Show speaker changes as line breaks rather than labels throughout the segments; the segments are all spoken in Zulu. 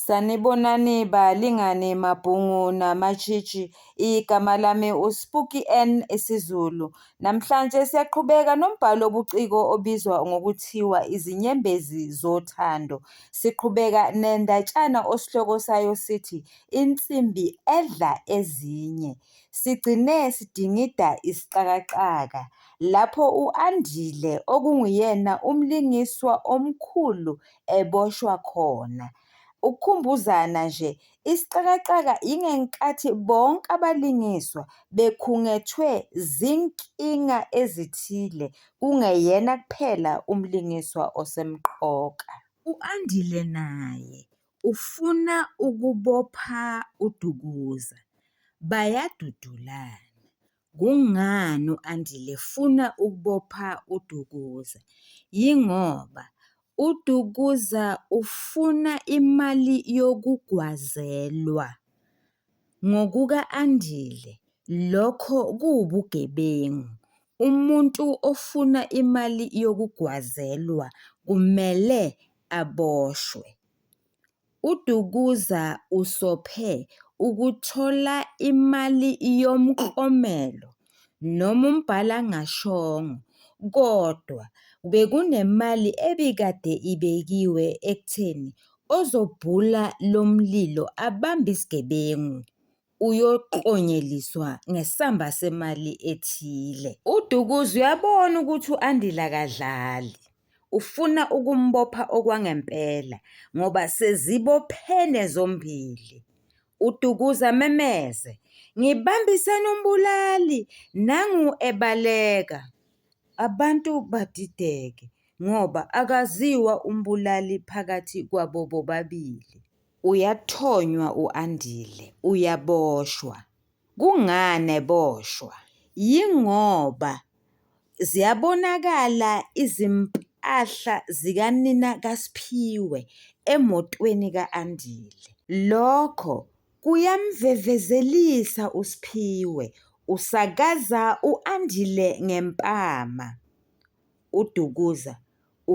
Sanibonani balingani mabhungu namatshitshi, igama lami uSpuki N isiZulu. Namhlanje siyaqhubeka nombhalo obuciko obizwa ngokuthiwa izinyembezi zothando. Siqhubeka nendatshana osihloko sayo sithi insimbi edla ezinye. Sigcine sidingida isixakaxaka lapho u-Andile okunguyena umlingiswa omkhulu eboshwa khona. Ukukhumbuzana nje, isixakaxaka yingenkathi bonke abalingiswa bekhungethwe zinkinga ezithile, kungeyena kuphela umlingiswa osemqoka. U-Andile naye ufuna ukubopha uDukuza, bayadudulana. Kungani u-Andile efuna ukubopha uDukuza? Yingoba uDukuza ufuna imali yokugwazelwa. Ngokuka-Andile lokho kuwubugebengu, umuntu ofuna imali yokugwazelwa kumele aboshwe. UDukuza usophe ukuthola imali yomklomelo noma umbhalangashongo kodwa bekunemali ebikade ibekiwe ekutheni ozobhula lo mlilo abambe isigebengu. uyoklonyeliswa ngesamba semali ethile. UDukuza uyabona ukuthi u-Andile akadlali, ufuna ukumbopha okwangempela ngoba sezibophene zombili. UDukuza amemeze, Ngibambisene umbulali! Nangu ebaleka. Abantu badideke ngoba akaziwa umbulali phakathi kwabo bobabili. Uyathonywa u-Andile, uyaboshwa. Kungani eboshwa? Yingoba ziyabonakala izimpahla zikanina kaSphiwe emotweni ka-Andile. Lokho kuyamvevezelisa uSphiwe, usakaza u-Andile ngempama. UDukuza,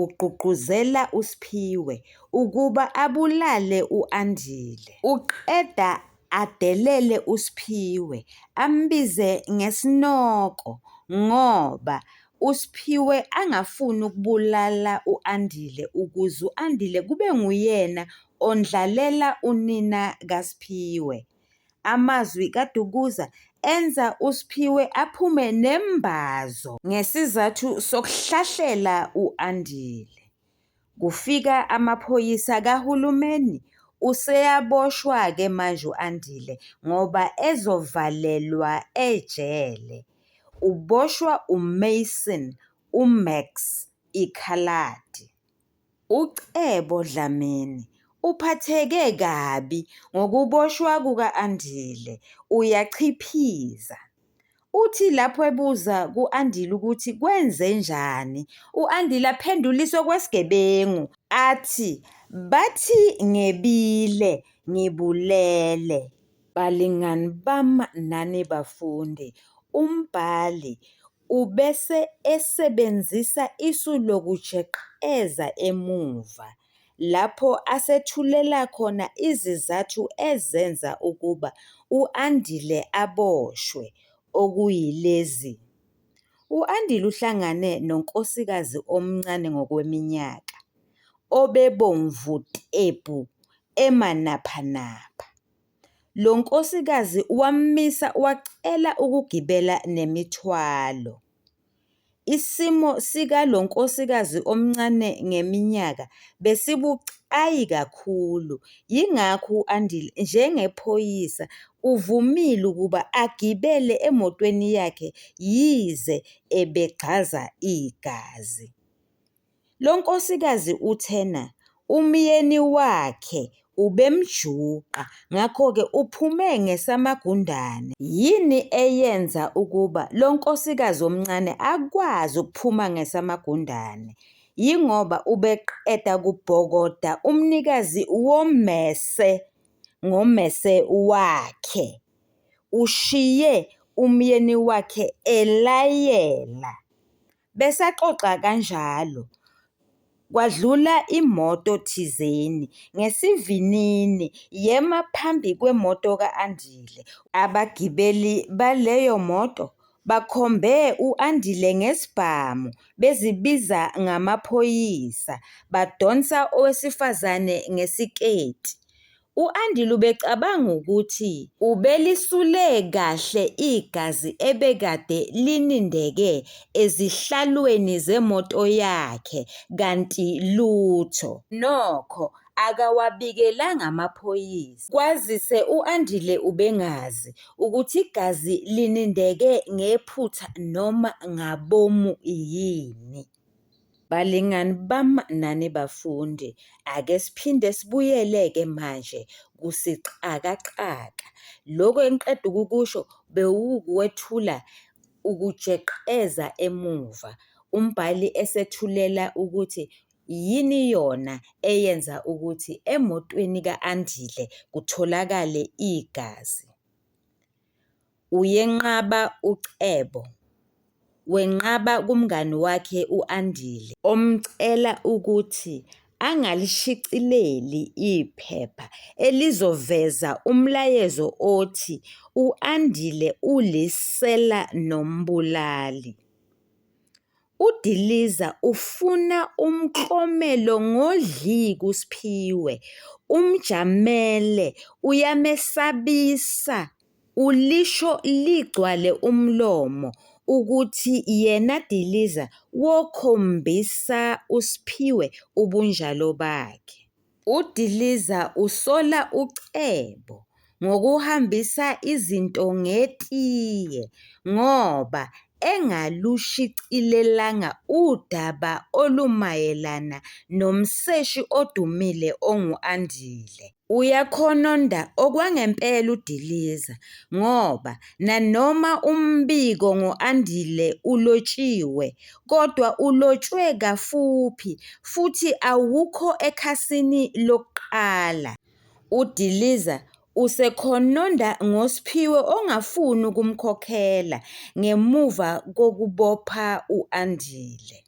ugqugquzela uSphiwe ukuba abulale u-Andile. Uqeda adelele uSphiwe ambize ngesinoko ngoba uSphiwe angafuni ukubulala u-Andile ukuze u-Andile kube nguyena ondlalela unina kaSphiwe. Amazwi kaDukuza enza uSphiwe aphume nembazo ngesizathu sokuhlahlela u-Andile. Kufika amaphoyisa kahulumeni useyaboshwa-ke manje u-Andile ngoba ezovalelwa ejele. Uboshwa uMason uMax ikhaladi. UCebo Dlamini uphatheke kabi ngokuboshwa kuka-Andile, uyachiphiza. Uthi lapho ebuza ku-Andile ukuthi kwenzenjani, u-Andile aphendule isokwesigebengu athi, Bathi ngebile ngibulele. Balingani bami nani bafundi, umbhali Ubese esebenzisa isu lokujeqeza emuva lapho asethulela khona izizathu ezenza ukuba u-Andile aboshwe okuyilezi, U-Andile uhlangane nonkosikazi omncane ngokweminyaka, obebomvu tebhu emanaphanapha. Lo nkosikazi wamisa wacela ukugibela nemithwalo. Isimo sikalo nkosikazi omncane ngeminyaka besibucayi kakhulu, yingakho u-Andile njengephoyisa uvumile ukuba agibele emotweni yakhe yize ebegxaza igazi. Lo nkosikazi uthena umyeni wakhe ubemjuqa ngakho-ke uphume ngesamagundane. Yini eyenza ukuba lo nkosikazi omncane akwazi ukuphuma ngesamagundane? Yingoba ubeqeda kubhokoda umnikazi wommese ngommese wakhe, ushiye umyeni wakhe elayela. Besaxoxa kanjalo, kwadlula imoto thizeni ngesivinini yema phambi kwemoto ka-Andile. Abagibeli baleyo moto bakhombe u-Andile ngesibhamu bezibiza ngamaphoyisa, badonsa owesifazane ngesiketi. U-Andile ubecabanga ukuthi ubelisule kahle igazi ebekade linindeke ezihlalweni zemoto yakhe kanti lutho. Nokho akawabikelanga amaphoyisa kwazise u-Andile ubengazi ukuthi igazi linindeke ngephutha noma ngabomu yini. Balingani bam nani bafundi, ake siphinde sibuyele-ke manje kusixakaxaka. Lokhu engiqeda ukukusho bewukukwethula ukujeqeza emuva, umbhali esethulela ukuthi yini yona eyenza ukuthi emotweni ka-Andile kutholakale igazi. Uyenqaba uCebo. Wenqaba kumngani wakhe u-Andile. Omcela ukuthi angalishicileli iphepha elizoveza umlayezo othi u-Andile ulisela nombulali. UDiliza ufuna umklomelo ngodli kuSphiwe. Umjamele, uyamesabisa, ulisho ligcwale umlomo ukuthi yena Diliza wokhombisa uSphiwe ubunjalo bakhe. UDiliza usola uCebo ngokuhambisa izinto ngetiye ngoba engalushicilelanga udaba olumayelana nomseshi odumile ongu-Andile. Uyakhononda okwangempela uDiliza ngoba nanoma umbiko ngo-Andile ulotshiwe, kodwa ulotshwe kafuphi futhi awukho ekhasini lokuqala. UDiliza usekhononda ngoSphiwe ongafuni ukumkhokhela ngemuva kokubopha u-Andile.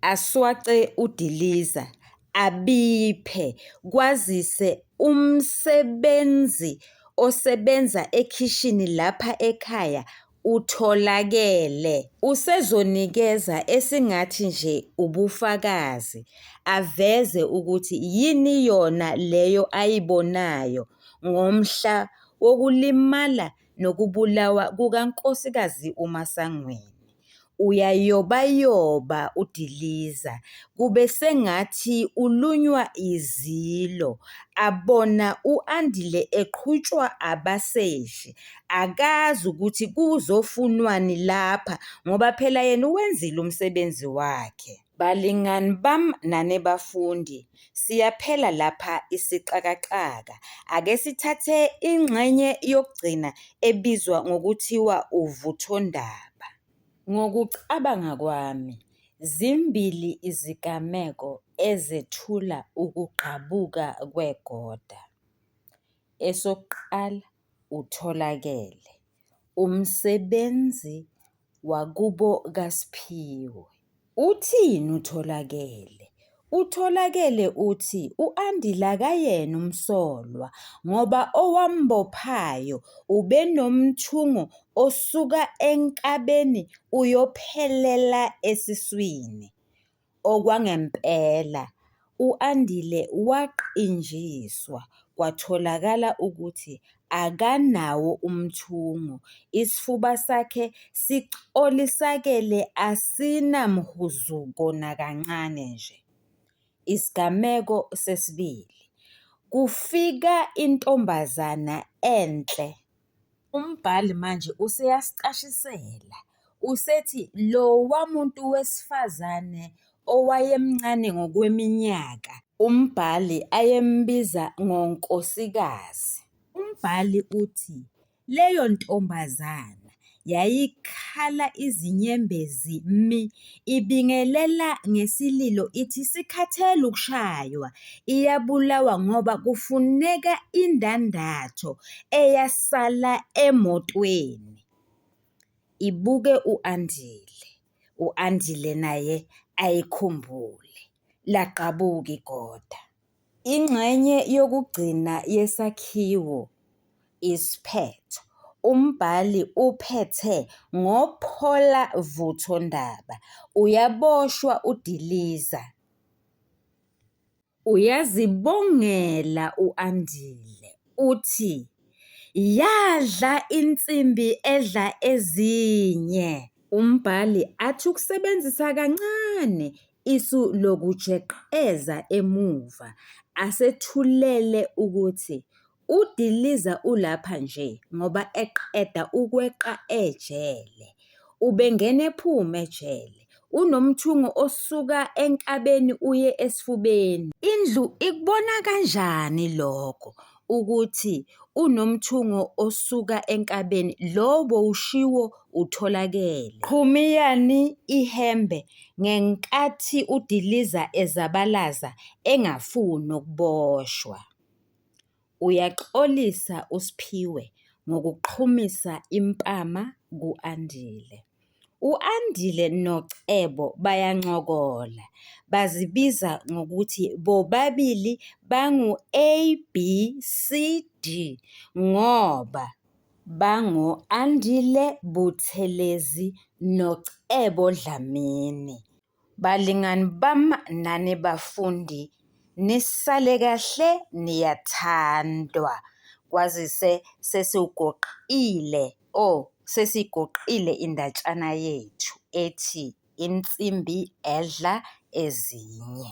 Aswace uDiliza abiphe kwazise umsebenzi osebenza ekhishini lapha ekhaya utholakele usezonikeza esingathi nje ubufakazi aveze ukuthi yini yona leyo ayibonayo ngomhla wokulimala nokubulawa kukaNkosikazi uMasangweni. Uyayobayoba udiliza kube sengathi ulunywa izilo abona u-Andile eqhutshwa abaseshi akazi ukuthi kuzofunwani lapha ngoba phela yena uwenzile umsebenzi wakhe. Balingani bam nani bafundi, siyaphela lapha isixakaxaka. Ake sithathe ingxenye yokugcina ebizwa ngokuthiwa uvuthondaba. Ngokucabanga kwami, zimbili izigameko ezethula ukugqabuka kwegoda. Esokuqala, utholakele. Umsebenzi wakubo kaSphiwe uthini uTholakele? UTholakele uthi u-Andile akayena umsolwa ngoba owambophayo ubenomthungo osuka enkabeni uyophelela esiswini. Okwangempela, u-Andile waqinjiswa kwatholakala ukuthi akanawo umthungo, isifuba sakhe sicolisakele asinamhuzuko nakancane nje. Isigameko sesibili, Kufika intombazana enhle Umbhali manje useyasicashisela, usethi lowa muntu wesifazane owayemncane ngokweminyaka, umbhali ayembiza ngonkosikazi. Umbhali uthi leyo ntombazana yayikhala izinyembezi mi ibingelela ngesililo ithi isikhathele ukushaywa iyabulawa ngoba kufuneka indandatho eyasala emotweni. Ibuke u-Andile, u-Andile naye ayikhumbule lagqabuka igoda. Ingxenye yokugcina yesakhiwo, isiphetho, umbhali uphethe ngophola vutho ndaba, uyaboshwa udiliza. Uyazibongela u-Andile uthi, Yadla insimbi edla ezinye. Umbhali athi ukusebenzisa kancane Isu lokujeqeza emuva asethulele ukuthi udiliza ulapha nje ngoba eqeda ukweqa ejele. Ubengena ephuma ejele. Unomthungo osuka enkabeni uye esifubeni. Indlu ikubona kanjani lokho? ukuthi unomthungo osuka enkabeni lo bowushiwo utholakele. Qhumiyani ihembe ngenkathi udiliza ezabalaza engafuni ukuboshwa. Uyaxolisa uSphiwe ngokuqhumisa impama ku-Andile. U-Andile noCebo bayancokola, bazibiza ngokuthi bobabili bangu-A, B, C, D ngoba bango-Andile Buthelezi noCebo Dlamini. Balingani bam nani bafundi nisale kahle niyathandwa kwazise sesiwugoqile o oh, sesigoqile indatshana yethu ethi insimbi edla ezinye.